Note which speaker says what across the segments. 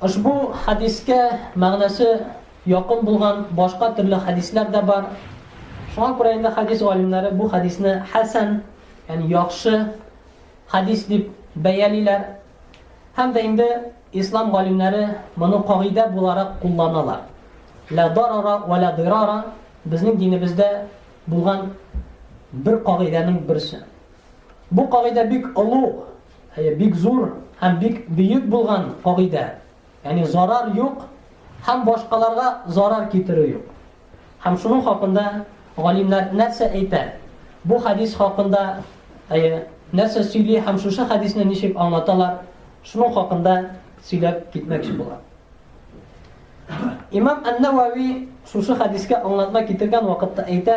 Speaker 1: Ошбу хәдискә мәгънәсе якын булган башка төрле хәдисләр дә бар. Шуңа күрә инде хәдис галимнәре бу хәдисне хәсән, ягъни яхшы хәдис дип бәялиләр. Һәм дә инде ислам галимнәре моны кагыйдә буларак кулланалар. Ла дарара ва ла дирара безнең динебездә булган бер кагыйдәнең берсе. Бу кагыйдә бик олуг Әйе, бик зур һәм бик бөек булган кагыйдә. Ягъни зарар юк һәм башкаларга зарар китерү юк. Һәм шуның хакында галимнәр нәрсә әйтә? Бу хадис хакында әйе, нәрсә сөйли һәм шушы хадисне ничек аңлаталар? Шуның хакында сөйләп китмәкче булам. Имам Ан-Навави шушы хадискә аңлатма китергән вакытта әйтә,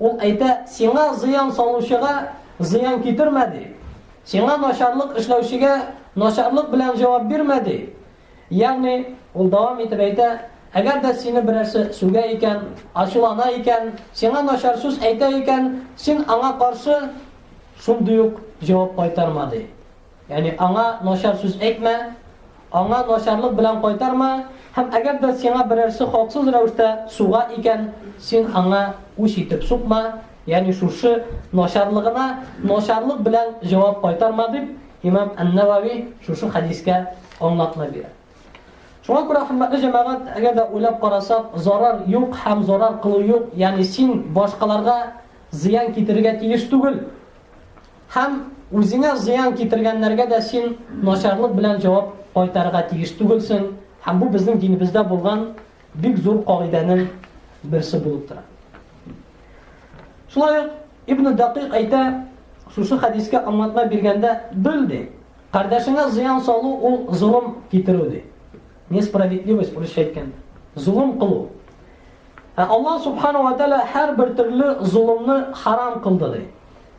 Speaker 1: Ул әйтә, Сиңа зыян салучыга зыян китермә, ди. Сиңа начарлык эшләүчегә начарлык белән җавап бирмә, ди. Ягъни, ул дәвам итеп әйтә, Әгәр дә сине берәрсе сүгә икән, ачулана икән, сиңа начар сүз әйтә икән, син аңа каршы шундый ук җавап кайтарма, ди. Ягъни аңа начар сүз әйтмә, аңа начарлык белән кайтарма, һәм әгәр дә сиңа берәрсе хаксыз рәвештә суга икән, син аңа үч итеп сукма, ягъни шушы начарлыгына начарлык белән җавап кайтарма, дип, имам Ән-Нәвави шушы хәдискә аңлатма бирә. Шуңа күрә, хөрмәтле җәмәгать, әгәр дә уйлап карасак, зарар юк һәм зарар кылу юк, ягъни син башкаларга зыян китерергә тиеш түгел. Һәм үзеңә зыян китергәннәргә дә син начарлык белән җавап кайтарырга тиеш түгелсең, һәм бу безнең динебездә булган бик зур кагыйдәнең берсе булып тора. Шулай ук Ибн Дакыйк әйтә, шушы хәдискә аңлатма биргәндә, бел ди, кардәшеңә зыян салу ул золым китерү ди. Несправедливость урысча әйткәндә. Золым кылу. Ә Аллаһ субхану ва тааля һәрбер төрле золымны харам кылды ди.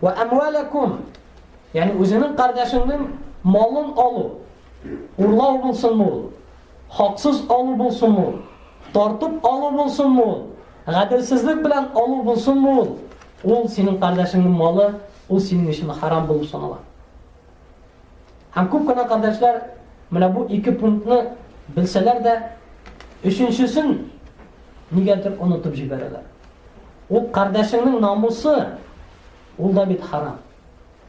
Speaker 1: Вә әмвәләкум, яни үзенең кардәшеңнең малын алу, урлау булсын мул, хаксыз алу булсын мул, тартып алу булсын мул, гаделсезлек белән алу булсын мул, ул синең кардәшеңнең малы, ул синең өчен харам булып санала. Һәм күп кенә кардәшләр менә бу ике пунктны белсәләр дә, өченчесен нигәдер онытып җибәрәләр. Ул кардәшеңнең намусы, ул да бит харам.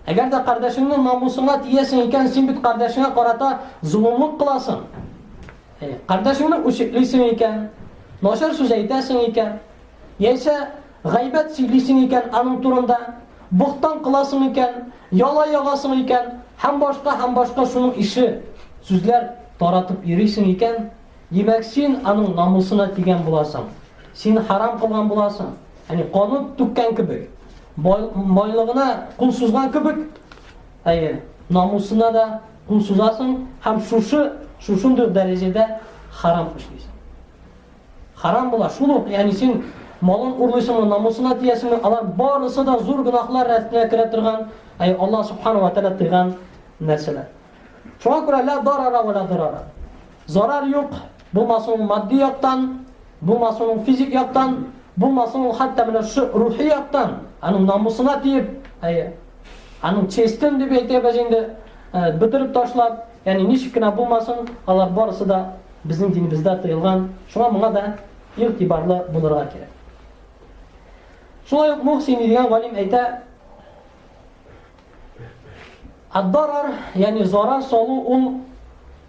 Speaker 1: Әгәр дә кардәшеңнең намусына тиясең икән, син бит кардәшеңә карата золымлык кыласың. Кардәшеңне үчеклисең икән, начар сүз әйтәсең икән, яисә Гайбәт сөйлисең икән аның турында, бохтан кыласың икән, яла ягасың икән һәм башка һәм башка шуның ише сүзләр таратып йөрисең икән, димәк, син аның намусына тигән буласың. Син харам кылган буласың. Яни канун түккән кебек, байлыгына кул сузган кебек, әйе, намусына да кул сузасың һәм шушы шушындый дәрәҗәдә харам эшлисең. Харам була, шул ук, ягъни син малын урлыйсыңмы, намусына тиясеңме, алар барысы да зур гөнаһлар рәтенә керә торган, әй Аллаһ субхана ва тәгалә тыйган нәрсәләр. Шуңа күрә ла дарара ва ла дарара. Зарар юк, булмасын ул матди яктан, булмасын ул физик яктан, булмасын ул хәтта менә шу рухи яктан, аның намусына тиеп, әй аның честен дип әйтәбез инде, бөтереп ташлап, Ягъни, ничек кенә булмасын, алар барысы да безнең динебездә тыелган, шуңа моңа да игътибарлы булырга кирәк. Шулай ук Мухсини дигән галим әйтә, Аддарар, ягъни зарар салу ул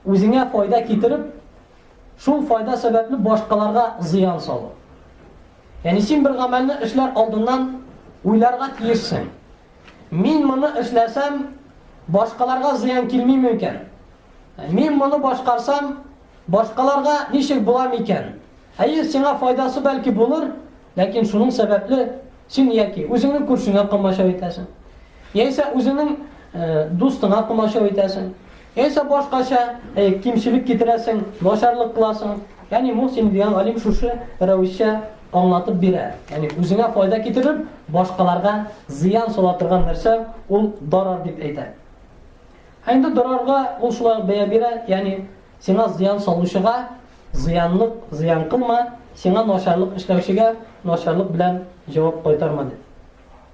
Speaker 1: үзеңә файда китереп, шул файда сәбәпле башкаларга зыян салу. Ягъни син бер гамәлне эшләр алдыннан уйларга тиешсең. Мин моны эшләсәм, башкаларга зыян килми микән? Мин моны башкарсам, башкаларга ничек була микән? Әйе, сиңа файдасы бәлки булыр, ләкин шуның сәбәпле син яки үзеңнең күршеңә комачау итәсең, яисә үзеңнең дустыңа комачау итәсең. Яисә башкача, әй, кимчелек китерәсең, начарлык кыласың. Әни Мухсин дигән галим шушы рәвешчә аңлатып бирә. Әни, үзеңә файда китереп, башкаларга зыян сала торган нәрсә ул дарар дип әйтә. Ә инде дарарга ул шулай ук бәя бирә, яни сиңа зыян салучыга зыянлык зыян кылма, сиңа начарлык эшләүчегә начарлык белән җавап кайтарма дип.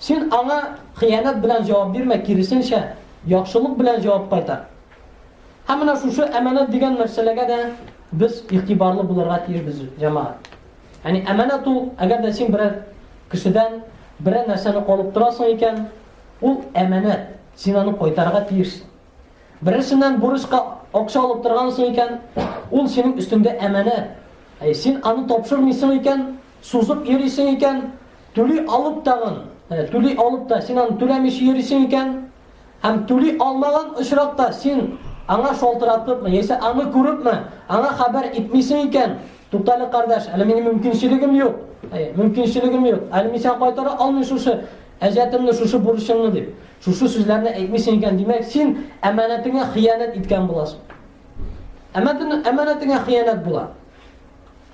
Speaker 1: Син аңа хыянәт белән җавап бирмә, киресенчә, яхшылык белән җавап кайтар. Һәм менә шушы әманәт дигән мәсьәләгә дә без игътибарлы булырга тиешбез, җәмәгать. Ягъни әманәт ул, әгәр дә син берәр кешедән берәр нәрсәне алып торасың икән, ул әманәт, син аны кайтарырга тиешсең. Берәрсеннән бурычка акча алып торгансың икән, ул синең өстеңдә әманәт. Әй, син аны тапшырмыйсың икән, сузып йөрисең икән, Түли алып тагын, әнә, түли алып та син аны түләмичә йөрисең икән, һәм түли алмаган очракта син аңа шалтыратыпмы, яисә аны күрепме, аңа хәбәр итмисең икән, туктале, кардәш, әле минем мөмкинчелегем юк, әйе, мөмкинчелегем юк, әле мин сиңа кайтара алмыйм шушы әҗәтемне, шушы бурычымны, дип, шушы сүзләрне әйтмисең икән, димәк, син әманәтеңә хыянәт иткән буласың. Әманәтеңә хыянәт була.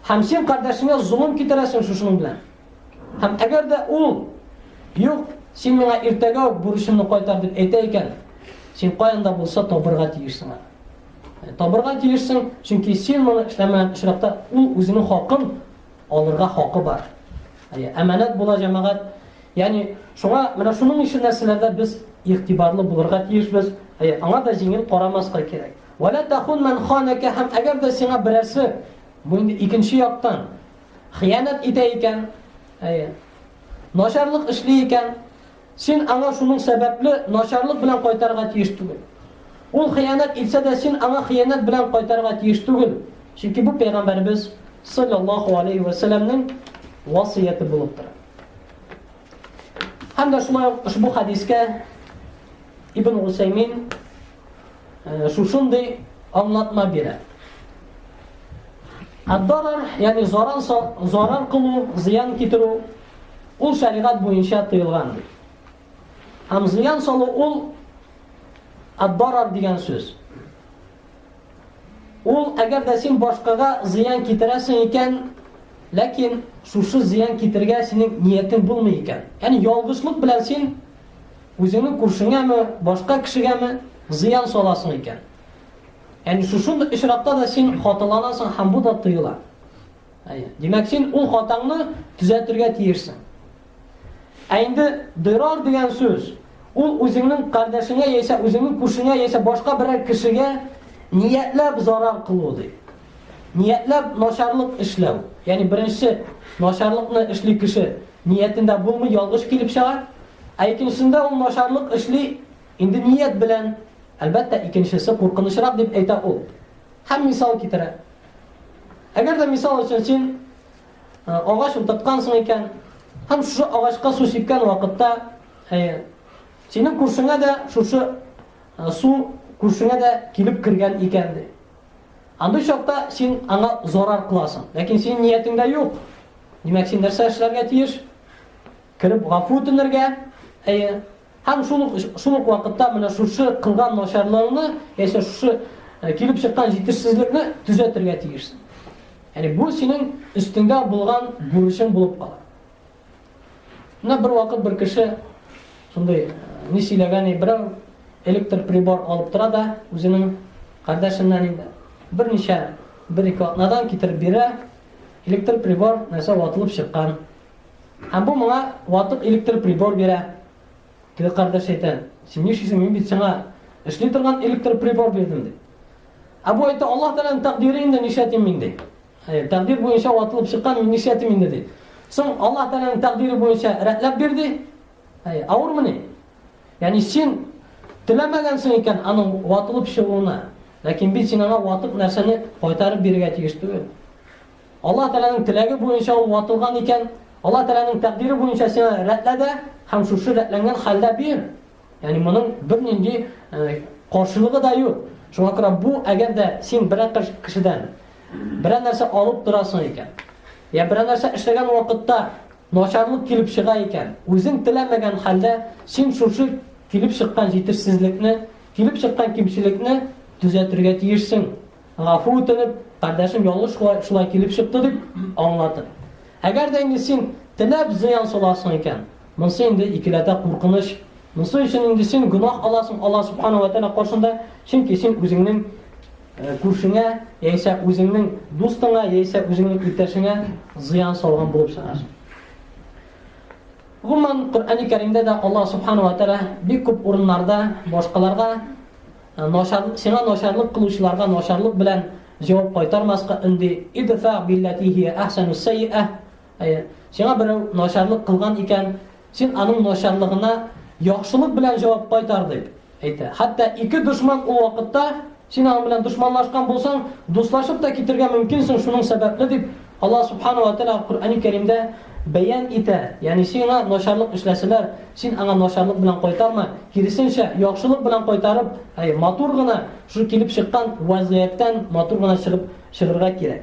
Speaker 1: Һәм син кардәшеңә золым китерәсең шушының белән. Һәм әгәр дә ул, Юк, син миңа иртәгә үк бурычымны кайтар дип әйтә икән, син каян да булса табырга тиешсең аны. Ә табырга тиешсең, чөнки син моны эшләмәгән очракта ул үзенең хакын алырга хакы бар. Әйе, әманәт була җәмәгать. Ягъни, шуңа менә шуның өчен нәрсәләрдә без игътибарлы булырга тиешбез. Әйе, аңа да җиңел карамаска кирәк. Вә лә тәхун мән ханәкә һәм әгәр дә сиңа берәрсе, бу инде икенче яктан, хыянәт итә икән, әйе, начарлык эшли икән, син аңа шуның сәбәпле начарлык белән кайтарга тиеш түгел. Ул хыянәт итсә дә син аңа хыянәт белән кайтарга тиеш түгел. Чөнки бу пәйгамбәрбез саллаллаху алейхи ва сәлламнең васыяте булып тора. Һәм дә шулай ук ошбу хадискә Ибн Усаймин Э, шушындый аңлатма бирә. Аддарар, ягъни зарар зарар кылу, зыян китерү ул шәригать буенча тыелган. Һәм зыян салу ул аддарар дигән сүз. Ул әгәр дә син башкага зыян китерәсең икән, ләкин шушы зыян китергә синең ниятең булмый икән. Ягъни ялгышлык белән син Үзеңнең күршеңәме, башка кешегәме зыян саласың икән? Яни шушындый очракта да син хаталанасың һәм бу да тыела. Әйе. Димәк, син ул хатаңны төзәтергә тиешсең. Ә инде дырар дигән сүз, ул үзеңнең кардәшеңә яисә үзеңнең күршеңә яисә башка берәр кешегә ниятләп зарар кылу ди. Ниятләп начарлык эшләү. Ягъни беренче начарлыкны эшли кеше Ниятендә булмый, ялгыш килеп чыга. Ә икенчесендә ул начарлык эшли, инде ният белән. Әлбәттә, икенчесе куркынычрак, дип әйтә ул. Һәм мисал китерә. Әгәр дә мисал өчен син агач утырткансың икән, һәм шушы агачка су сипкән вакытта, әйе, синең күршеңә дә шушы су күршеңә дә килеп кергән икән ди. Андый чакта син аңа зарар кыласың. Ләкин синең ниятеңдә юк. Димәк, син нәрсә эшләргә тиеш? Кереп гафу үтенергә. Әйе. Һәм шул шул ук вакытта менә шушы кылган начарлыгыңны, яисә шушы э, килеп чыккан җитешсезлекне төзәтергә тиешсең. Яни бу синең өстеңдә булган бурычың булып кала. Менә бервакыт бер кеше шундый ни сөйләгән иде, берәү электр прибор алып тора да, үзенең кардәшеннән инде берничә бер-ике атнадан китереп бирә, электр прибор нәрсә ватылып чыккан. Һәм бу моңа ватып электр прибор бирә. Теге кардәш әйтә, син нишлисең, мин бит сиңа эшли торган электр прибор бирдем ди. Ә бу әйтә, Аллаһ Тәгаләнең тәкъдире инде нишләтим мин ди. Хәер, тәкъдир буенча ватылып чыккан мин нишләтим инде ди. Соң Аллаһ Тәгаләнең тәкъдире буенча рәтләп бир ди. Хәер, авырмыни? Ягъни син теләмәгәнсең икән аның ватылып чыгуына. Ләкин бит син аңа ватык нәрсәне кайтарып бирергә тиеш түгел. Аллаһ Тәгаләнең теләге буенча ул ватылган икән, Аллаһ Тәгаләнең тәкъдире буенча син рәтлә дә һәм шушы рәтләнгән хәлдә бир. Ягъни моның бернинди каршылыгы да юк. Шуңа күрә бу әгәр дә син берәр кешедән Берәр нәрсә алып торасың икән, я берәр нәрсә эшләгән вакытта начарлык килеп чыга икән, үзең теләмәгән хәлдә син шушы килеп чыккан җитешсезлекне, килеп чыккан кимчелекне төзәтергә тиешсең. Гафу үтенеп, кардәшем ялгыш шулай, шулай килеп чыкты дип аңлатып. Әгәр дә инде син теләп зыян саласың икән, монсы инде икеләтә куркыныч. Монсы өчен инде син гөнаһ аласың Аллаһ субхана ва тәгалә каршында, чөнки син үзеңнең күршеңә яисә үзеңнең дустыңа яисә үзеңнең иптәшеңә зыян салган булып чыгасың. Гомумән, Коръәни Кәримдә дә Аллаһ субханаһу ва тааля бик күп урыннарда башкаларга э, начар сиңа начарлык кылучыларга начарлык белән җавап кайтармаска өнди. Идфа биллатихи ахсану саййа Әйе, сиңа берәү начарлык кылган икән, син аның начарлыгына яхшылык белән җавап кайтар дип әйтә. Хәтта ике дошман ул вакытта син аның белән дошманлашкан булсаң, дуслашып та китергә мөмкинсең шуның сәбәпле дип Аллаһ субхана ва тәала Коръәни Кәримдә бәян итә. Ягъни сиңа начарлык эшләсәләр, син аңа начарлык белән кайтарма, киресенчә, яхшылык белән кайтарып, әй, матур гына шул килеп чыккан вазгыятьтән матур гына чыгып чыгырга кирәк.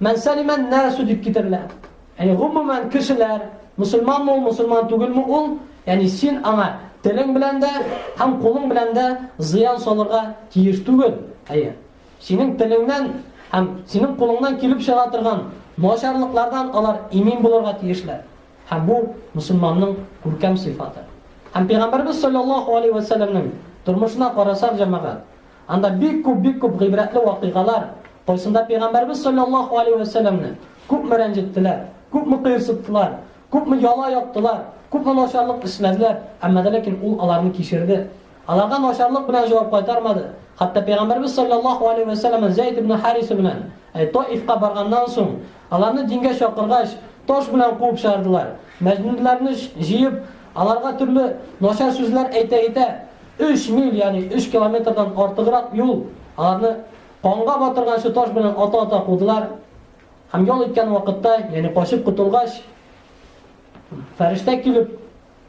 Speaker 1: Мән сәлимә ән-нәсү дип китерелә. Ягъни, гомумән, кешеләр, мөселманмы ул, мөселман түгелме ул, ягъни син аңа телең белән дә һәм кулың белән дә зыян салырга тиеш түгел. Әйе. Синең телеңнән һәм синең кулыңнан килеп чыга торган начарлыклардан алар имин булырга тиешләр. Һәм бу, мөселманның күркәм сыйфаты. Һәм Пәйгамбәребез салләллаһу алейһи вә сәлләмнең тормышына карасак, җәмәгать, Анда бик күп, бик күп гыйбрәтле вакыйгалар, кайсында Пәйгамбәребез салләллаһу алейһи вә сәлләмне күпме рәнҗеттеләр, күпме кыерсыттылар, күпме яла яптылар, күпме начарлык эшләделәр, әмма дә ләкин ул аларны кичерде. Аларга начарлык белән җавап кайтармады. Хәтта Пәйгамбәребез салләллаһу алейһи вә сәлләмне Зәйд ибн Хариса белән әй Таифка барганнан соң, аларны дингә чакыргач, таш белән куып чыгардылар. Мәҗнүннәрне җыеп, аларга төрле начар сүзләр әйтә-әйтә, Өч миль, ягъни өч километрдан артыграк юл аларны канга батырганчы таш белән ата-ата кудылар. Һәм ял иткән вакытта, ягъни качып котылгач, фәрештә килеп,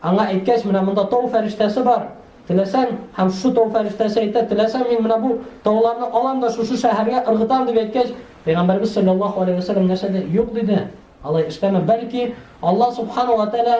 Speaker 1: аңа әйткәч, менә монда тау фәрештәсе бар, теләсәң, һәм шушы тау фәрештәсе әйтә, теләсәң мин менә бу тауларны алам да шушы шәһәргә ыргытам дип әйткәч, пәйгамбәрбез саллаллаһу алейһи вәсәлләм нәрсә диде? Юк диде. Алай эшләмә, бәлки Алла субхана ва тәгалә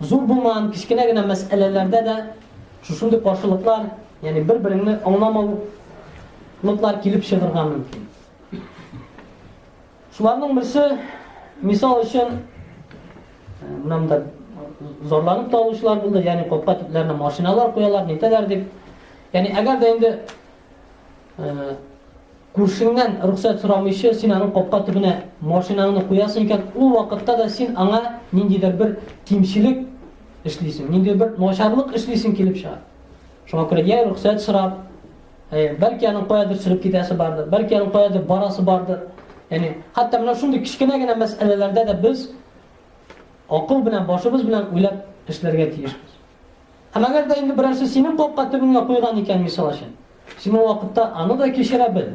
Speaker 1: Зур булмаган кечкенә генә мәсьәләләрдә дә шушындый каршылыклар, ягъни бер-береңне аңламаулыклар килеп чыгарга мөмкин. Шуларның берсе, мисал өчен, мында зарланып та алучылар булды, ягъни капка төпләренә машиналар куялар, нитәләр дип. Ягъни әгәр дә инде Күршеңнән рөхсәт сорамыйча син аның капка төбенә машинаңны куясың икән, ул вакытта да син аңа ниндидер бер кимчелек эшлисең, нинди бер начарлык эшлисең килеп чыга. Шуңа күрә я рөхсәт сорап, э, бәлки аның каядыр сөреп китәсе бардыр, бәлки аның каядыр барасы бардыр. Яни, хәтта менә шундый кечкенә генә мәсьәләләрдә дә без акыл белән, башыбыз белән уйлап эшләргә тиешбез. Һәм әгәр дә инде берәрсе синең капка төбеңә куйган икән, мисал өчен, син ул вакытта аны да кичерә бел.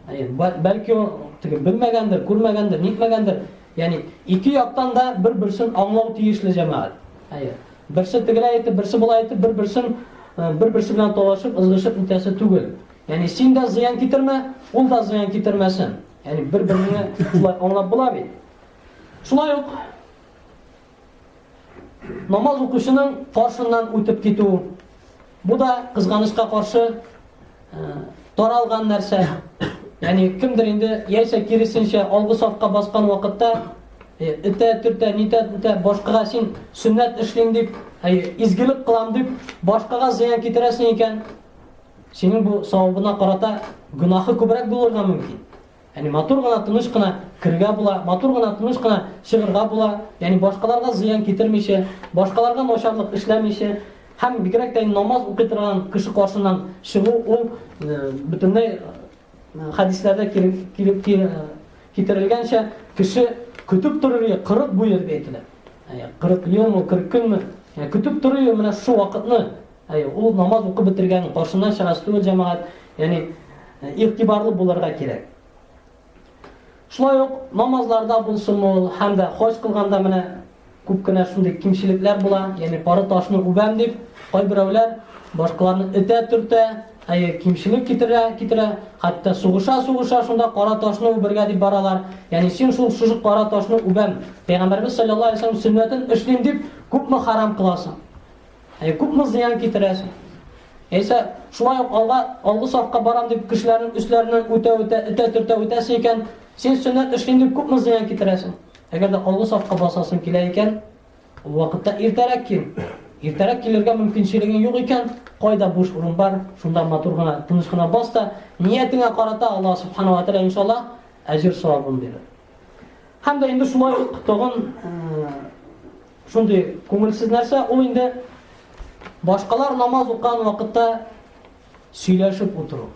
Speaker 1: Әйе, бәлки ул теге белмәгәндер, күрмәгәндер, нитмәгәндер. Ягъни ике яктан да бер-берсен аңлау тиешле җәмәгать. Әйе. Берсе тегеләй әйтеп, берсе болай әйтеп, бер-берсен э, бер-берсе белән талашып, ызгышып үтәсе түгел. Ягъни син дә зыян китермә, ул да зыян китермәсен. Ягъни бер-береңне шулай аңлап була бит. Шулай ук Намаз укучының каршыннан үтеп китү. Бу да кызганычка каршы э, таралган нәрсә. Ягъни кемдер инде яисә киресенчә алгы сафка баскан вакытта э, итә төртә, нитә итә, башкага син сөннәт эшлим дип, әй, изгелек кылам дип, башкага зыян китерәсең икән, синең бу савабына карата гөнаһы күбрәк булырга мөмкин. Яни матур гына, тыныч кына керергә була, матур гына, тыныч кына чыгырга була, яни башкаларга зыян китермичә, башкаларга начарлык эшләмичә, һәм бигрәк тә намаз укый торган кеше каршыннан чыгу ул э, бөтенләй э, хәдисләрдә килеп э, китерелгәнчә кеше көтеп торырга 40 буе дип әйтелә. 40 елмы, 40 көнме? Көтеп торырга менә шул вакытны Әй, ул намаз укып бетергән, каршына чыгач түгел җәмәгать, ягъни игътибарлы булырга кирәк. Шулай ук намазларда булсын ул, һәм дә хаҗ кылганда менә күп кенә шундый кимчелекләр була, ягъни пары ташны үбәм дип, кайберәүләр башкаларны этә төртә, әйе, кимчелек китерә, китерә, хәтта сугыша, сугыша, шунда кара ташны үбергә дип баралар. Ягъни син шул шушы кара ташны үбәм, Пәйгамбәрбез саллаллаһу алейһи ва сәлләм сүннәтен эшлим дип, күпме харам кыласың? Ә күпме зыян китерәсең? Яисә шулай ук алга, алгы сафка барам дип кешеләрнең өсләреннән үтә-үтә, этә-төртә үтәсе икән, син сөннәт эшлим дип күпме зыян китерәсең? Әгәр дә алгы сафка басасың килә икән, ул вакытта иртәрәк кил. Иртәрәк килергә мөмкинчелегең юк икән, кайда буш урын бар, шунда матур гына, тыныч гына бас та, ниятеңә карата Аллаһ субханаһу ва тааля иншалла әҗер савабын бирер. Һәм дә инде шулай ук тагын Шундый күңелсез нәрсә ул инде башкалар намаз укыган вакытта сөйләшеп утыру.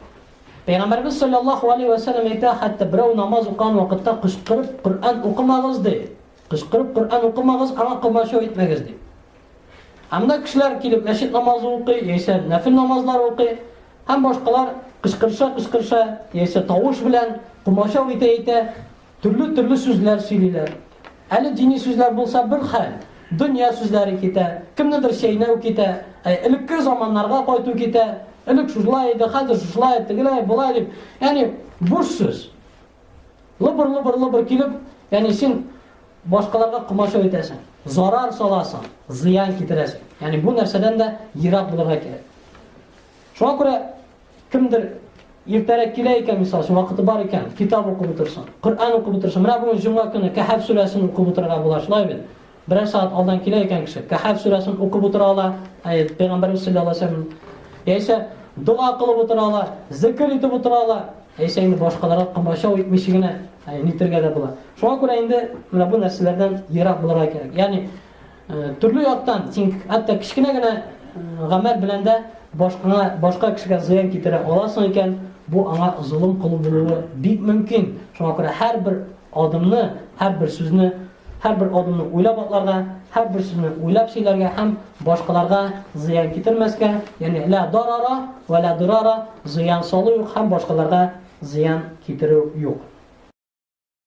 Speaker 1: Пәйгамбәрбез саллаллаһу алейхи ва саллям әйтә, хәтта берәү намаз укыган вакытта кычкырып Коръән укымагыз ди. Кычкырып Коръән укымагыз, аңа комачау итмәгез ди. Анда кешеләр килеп мәчет намазы укый, яисә нәфил намазлар укый, һәм башкалар кычкырыша-кычкырыша, яисә тавыш белән комачау итә-итә Төрле төрле сүзләр сөйлиләр. Әле дини сүзләр булса бер хәл, дөнья сүзләре китә, кемнедер чәйнәү китә, әй, элекке заманнарга кайту китә, элек шушылай иде, хәзер шушылай, тегеләй, болай дип, ягъни буш сүз. Лыбыр-лыбыр-лыбыр килеп, ягъни син башкаларга комачау итәсең, зарар саласың, зыян китерәсең. Ягъни бу нәрсәдән дә ерак булырга кирәк. Шуңа күрә Кемдер иртәрәк килә икән, мисал өчен, вакыты бар икән, китап укып утырсын, Коръән укып утырсын. Менә бүген җомга көне Кәһәф сүрәсен укып утырырга була, шулай бит? Берәр сәгать алдан килә икән кеше, Кәһәф сүрәсен укып утыра ала, әй, пәйгамбәрбез саллаллаһу алейһи ва сәлләм. Яисә дога кылып утыра ала, зикр итеп утыра ала, яисә инде башкаларга комачау итмичә генә нитергә дә була. Шуңа күрә инде менә бу нәрсәләрдән ерак булырга кирәк. Ягъни Төрле яктан син хәтта кечкенә генә гамәл белән дә башкаңа, башка кешегә зыян китерә аласың икән, бу аңа золым кылу булуы бик мөмкин. Шуңа күрә һәрбер адымны, һәрбер сүзне, һәрбер адымны уйлап атларга, һәрбер сүзне уйлап сөйләргә һәм башкаларга зыян китермәскә, ягъни ла дарара ва ла дирара, зыян салу юк һәм башкаларга зыян китерү юк.